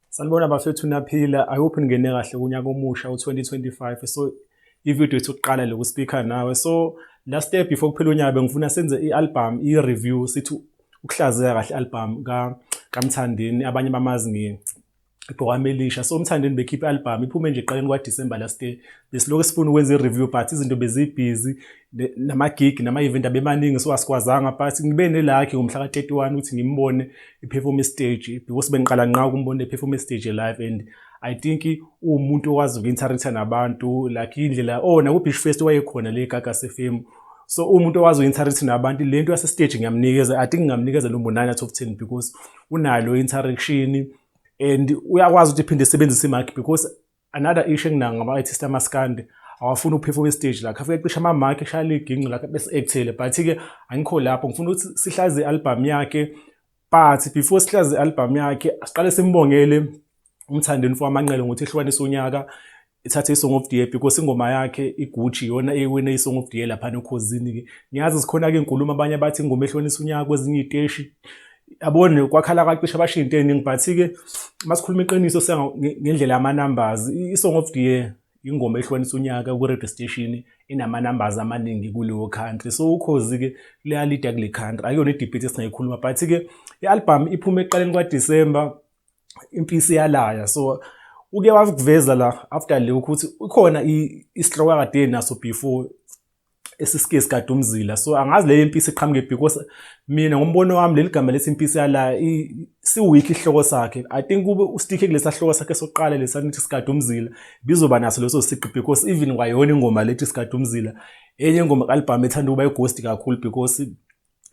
Sanibona bafethu naphila. I hope ningene kahle kunyaka omusha u-2025. So i-video yethu kuqala loku speaker nawe. So last step before kuphela unyaka bengifuna senze i-album i-review sithi ukuhlaziya kahle i-album ka kaMthandeni abanye bamazi ngi igqokama elisha so umthandeni bekhiphe album iphume nje eqaleni kwaDecember last year besilokhu sifuna ukwenza i-review but izinto bezibhizi nama-gig nama-event abemaningi so asikwazanga but ngibe nelakhi ngomhla ka-31 ukuthi ngimbone i-performe stage because bengiqala nqa ukumbona i-performe stage live and i think uwumuntu okwazi uku-interact-a nabantu like indlela o oh, naku-beach fest wayekhona le gagase fam so umuntu owazi u-interact nabantu le nto yasestage ngiyamnikeza i think ngingamnikeza lo mbonani out of ten because unalo interaction and uyakwazi ukuthi iphinde isebenzise imark because another issue enginayo ngama-artist amaskandi awafuni ukuphefuma istage la khafike cisha ama-mark eshaya liginqi lakhe bese ekuthele but-ke angikho lapho ngifuna ukuthi sihlaze i-albhamu yakhe but before sihlaze i-albhamu yakhe siqale simbongele umthandeni for amanqele ngokuthi ehlukanisa unyaka ithathe i-song of the year because ingoma yakhe igucci yona eyiwine i-song of the year laphana ekhozini-ke ngiyazi zikhona-ke inkulumo abanye bathi ingoma ehlonisa unyaka kwezinye iy'teshi yabona kwakhala kwacisha bashiya into eningi but-ke uma sikhuluma iqiniso ngendlela yama-numbers i-song of the year ingoma ehlonisa unyaka kwi-radio station inama-numbers amaningi kuleyo country so ukhozi-ke liyalida kule country akuyona i-debate esingayikhuluma but-ke i-album iphume ekuqaleni kwadisemba impisi yalaya so uke wakuveza la after le ukuthi ukhona isihloko akade naso before esisike sikade umzila so angazi leyo impisi iqhamuke because mina ngombono wami leli gama lethi impisi yala siwikhi isihloko sakhe i think kube ustikhe kulesa hloko sakhe sokuqala lesa nithi sikade umzila bizoba naso leso siqi because even kwayona ingoma lethi sikade umzila enye ingoma kalibhamu ethanda ukuba ighost kakhulu because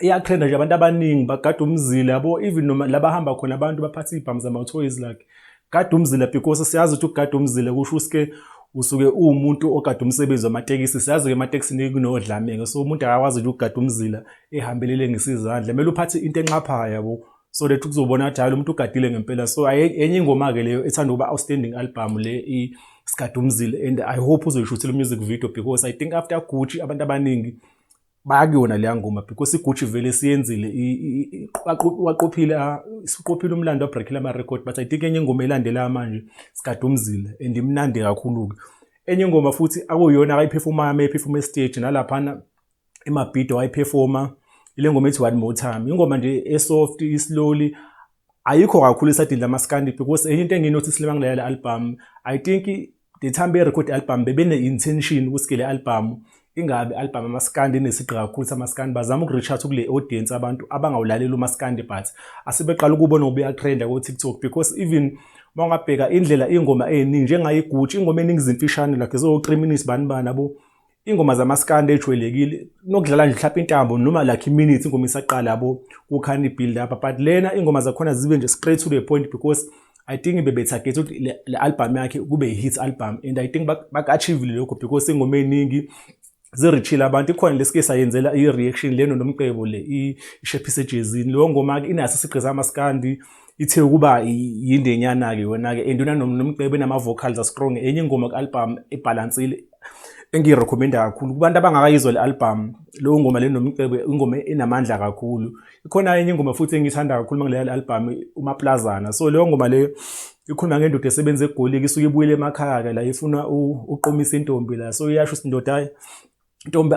iyatrenda nje abantu abaningi bagada umzila yabo even noma labahamba khona abantu baphatha iy'bhamu zama-toys like gada umzila because siyazi ukuthi ukugada umzila kusho usike usuke uwumuntu ogada umsebenzi wamatekisi siyazi-ke ematekisini kunodlamenge so umuntu akakwazi ukuthi ukugada umzila ehambelele ngesizandla kumele uphathe into enxaphayo yabo so that kuzobona ukuthi hayi lo muntu ugadile ngempela so enye ingoma-ke leyo ethanda ukuba outstanding album le isigada umzila and i hope uzoyishuthela umusic video because i think after gucci abantu abaningi bayakuyona leya ngoma because igucci vele siyenzile waqophile ah, siqophile umlando wabreakile ama-record but i think enye ingoma elandela manje sikadumzile and imnandi kakhulu-ke enye ingoma futhi akuyona akayiphefomayo uma ephefoma estage nalaphana emabhido wayiphefoma ile ngoma ethi one more time ingoma nje esoft islowly ayikho kakhulu isadini lamaskandi because enye into enginothi silema ngilalela album i think The time be record album bebene intention ukuthi le album ingabe album amaskandi inesigqi kakhulu samaskandi bazama ukureacha kule audience abantu abangawulaleli umaskandi but asebeqala ukubona ngoba uyatrenda ko TikTok because even mawungabheka indlela ingoma eningi njengayigutsha ingoma eningi izimfishane like zo 3 minutes bani bani abo ingoma zamaskandi ejwayelekile nokudlala nje mhlawumbe intambo noma like iminutes ingoma isaqala yabo kukhani build up but lena ingoma zakhona zibe nje straight to the point because i think bebetarget ukuthi le album yakhe kube hit album and i think baka-achievile lokho because ingoma eningi zirithile abantu ikhona lesike sayenzela i-reaction leno nomcebo le ishephise ejezini leyo ngoma-ke inaso isigqiza amaskandi ithe ukuba yindenyana-ke yona-ke and yona nomcebo enama-vocals astrong enye ingoma ku-albhamu ebhalansile engiyirekhomenda kakhulu kubantu abangakayizwa le albhamu leyo ngoma le nomcebo ingoma enamandla kakhulu ikhona enye ingoma futhi engiyithanda kakhulu uma ngileya le albhamu umaplazana so leyo ngoma leyo ikhuluma ngendoda esebenza egoliki isuke ibuyele emakhaya-ke la ifuna uqomisa intombi la so iyasho ukuthi indoda ntombi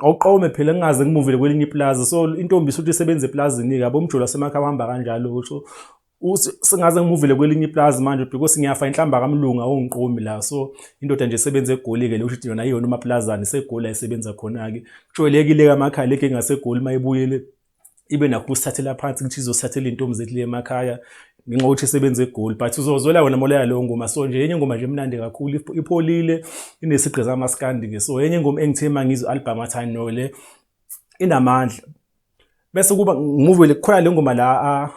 awuqome phela ngingaze ngimuvele kwelinye iplaza so intombi isuthi isebenza eplazini-ke yabo umjolo wasemakhaya uhamba kanjalo so sengaze ngimuvele kwelinye iplazi manje because ngiyafa inhlamba kamlungu awungiqomi la so indoda nje esebenza egoli-ke le usho ukuthi yona iyona umaplazane segoli ayisebenza khona-ke kujwayelekile-ke amakhaya lege ngaseGoli uma ibuyele ibe nakho ukusithathela phansi ukuthi izosithathela intombi zethu le emakhaya ngenxa yokuthi isebenza egoli but uzozwela wena moleya leyo ngoma so nje enye ingoma nje emnandi kakhulu ipholile inesigqi zamaskandi ke so enye ingoma engithe uma ngizwe album athi no le inamandla bese kuba ngimuve le khona le ngoma la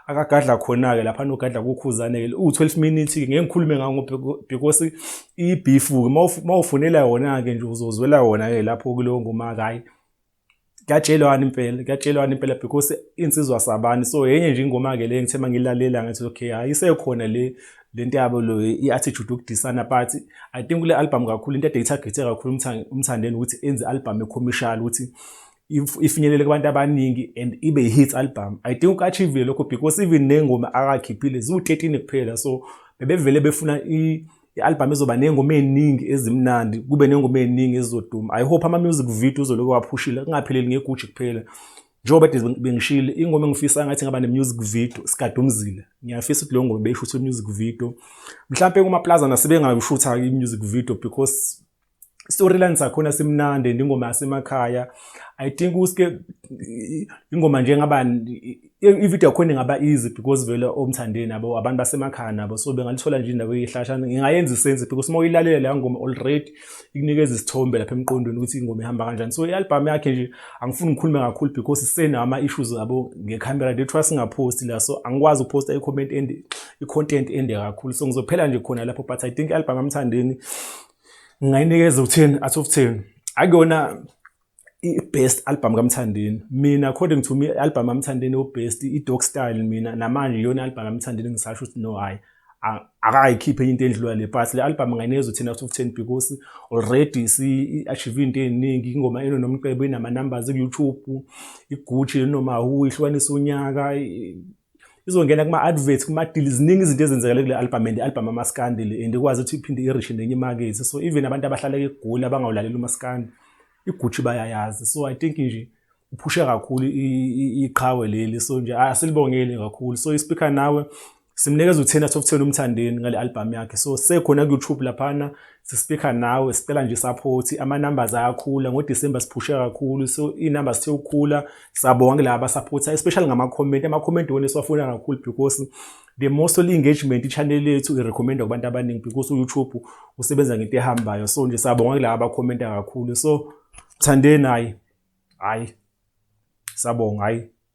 akagadla khona-ke lapha nogadla kukhuzane-ke uwu-12 minutes-ke ngeke ngikhulume ngawo because ibifu-ke uma ufunela yona-ke nje uzozwela wona-ke lapho kuleyo ngoma-ke hhayi kuyatshelwana impela kuyatshelwana impela because insizwa sabani so yenye nje ingoma-ke le ngithe mangilalela ngathi okay hayi isekhona le le nto yabo lo i-attitude yokudisana but i think kule album kakhulu into ade ithagethe kakhulu umthandeni ukuthi enze album ecommercial ukuthi ifinyelele kubantu abaningi and ibe i-hit album i think ukaachivile lokho because even ney'ngoma akakhiphile ziwu-13 kuphela so bebevele befuna i-albhamu izoba ney'ngoma ey'ningi ezimnandi kube ney'ngoma ey'ningi ezizoduma i hope ama-music video uzoloke waphushile kungapheleli ngeguji kuphela njengoba kade bengishile ingoma engifisa ngathi ngaba ne-music video sikadumzile ngiyafisa ukuthi leyo ngoma beyishuthe i-music video mhlawumpe kumaplaza nasebengayishutha-ke i-music video because storyline sakhona simnandi and ingoma yasemakhaya i think uske ingoma nje ngaba ivideo yakhona ingaba easy because vele omthandeni abo abantu basemakhaya nabo so bengalithola nje indawo eyihlasha ngingayenza isense because uma uyilalela leya ngoma already ikunikeza isithombe lapha emqondweni ukuthi ingoma ihamba kanjani so i-album yakhe nje angifuni ngikhulume kakhulu because isenawo ama-issues abo ngekhamera they trust ngaphosti la so angikwazi ukuphosta i-comment ende i-content ende kakhulu so ngizophela nje khona lapho but i think i-album amthandeni ngingayinikeza ukuthini athi ukuthini akuyona i-best album kamthandeni mina according to me i-album kamthandeni ubest i-dog style mina namanje iyona album kamthandeni ngisasho ukuthi no hhayi akayikhiphe into endlula le but le album ngayinezo thina to 10 because already si-achieve into ey'ningi ingoma eno nomcebo inama-numbers ku-youtube igucci noma hu ihlukanisa unyaka izongena kuma advert kuma deal ziningi izinto ezenzekele kule album and album amaskandi le and ikwazi ukuthi iphinde irish nenye market so even abantu abahlala egoli abangawulaleli umaskandi igucci bayayazi so i think nje uphushe kakhulu iqhawe leli so nje asilibongeli kakhulu so ispeaker nawe simnikeza u-10 out of 10 umthandeni ngale album yakhe so sekhona ku-youtube laphana sispeaker nawe sicela nje support ama numbers ayakhula ngo December siphushe kakhulu so i numbers sithe ukukhula sabonga kulaba supporter especially ngama comment ama comment wona siwafuna kakhulu because the most engagement i channel yethu i recommend kubantu abaningi because YouTube usebenza ngento ehambayo so nje sabonga kulaba aba comment kakhulu so thandeni hayi hayi sabonga hayi